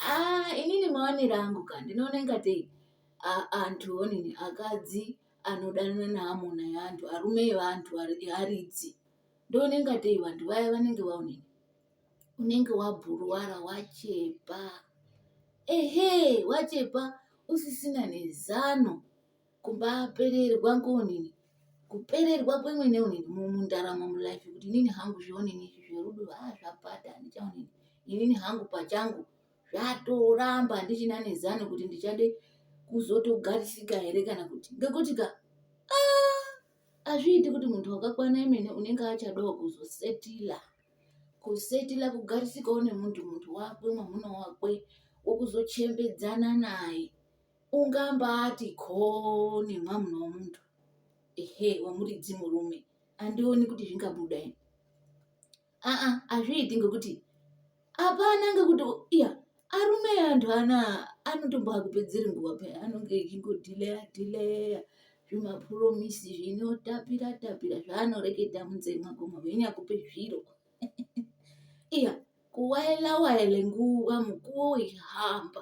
Ah, inini maonero angu ka ndinoona ingatei a- antu onini akadzi anodanana neamuna yeantu arume evantu ari- earidzi ndoona ingatei vantu vaya vanenge vaonini unenge wabhuruwara wachepa ehe wachepa usisina nezano kumbapererwa ngonini kupererwa kwemwene unini mundaramo mulife kuti inini hangu zvionini izvi zverudo haa ah, zvapata handichaonini inini hangu pachangu zvatoramba handichina nezano kuti ndichade kuzotogarisika here kana kuti ngekuti ka ah, azviiti kuti muntu wakakwana imene unenge achadawo kuzosetila kusetila kugarisikawo nemuntu muntu wakwe mwamuna wakwe wokuzochembedzana naye ungambati ko nemwa munhu wemunhu ehe wemuridzi murume andioni kuti zvingabuda ini aa hazviiti ngekuti hapana ngekuti iya arume antu ana anotombakupedzeri nguva paya anonge echingodhileya dhileya zvimapuromisi zvinotapira tapira zvaanoreketa munzee mwako mavhenyakupe zviro iya kuwaela waele nguva mukuwo wechihamba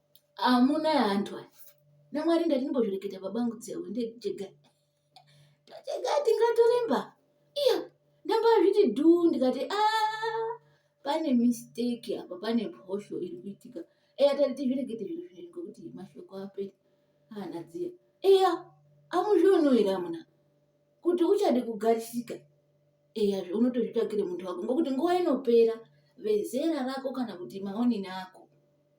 Amuna hantu aya. NaMwari ndati ndimbozvireketa babangu dzehwe ndechega. Ndachega tingatoremba. Iya ndambazviti dhuu ndikati ah pane mistake apa pane mhosho iri kuitika. Eya tati tizvirekete zviro zvinhu ngokuti mashoko apera. Hana dziya. Eya amuzviono here amuna kuti uchade kugarisika eya zvaunotozvitsvakire muntu wako ngokuti nguva inopera vezera rako kana kuti maonini ako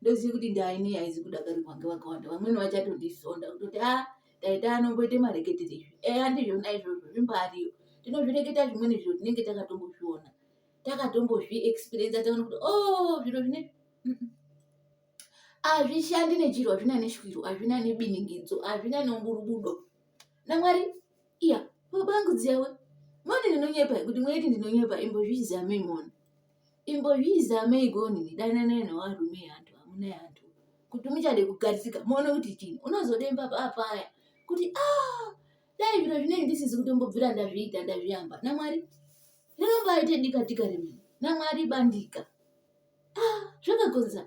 ndoziva kuti ndaine yaizi kudakarirwa ngevakawanda vamweni vachatondisonda kutoti a ah, taita anongoita mareketere izvi eya eh, ndizvona izvozvo zvimbariyo tinozvireketa zvimweni zviro tinenge takatombozviona takatombozviexperiensa taona kuti o oh, zviro zvine hazvishandi nechiro hazvina neshwiro hazvina nebiningidzo hazvina neumburubudo namwari iya baba angu dziyawe mone ndinonyepa kuti mwaiti ndinonyepa imbozvizamei mona imbozvizamei gonini dananai nevarume hantu hamuna hantu kuti muchade kugarisika muone kuti chini unozodemba papaya kuti a ah, dai zviro zvinei ndisizi kutombobvira ndazviita ndazviyamba namwari rinombaite dika dika remene namwari bandika a ah, zvakagonza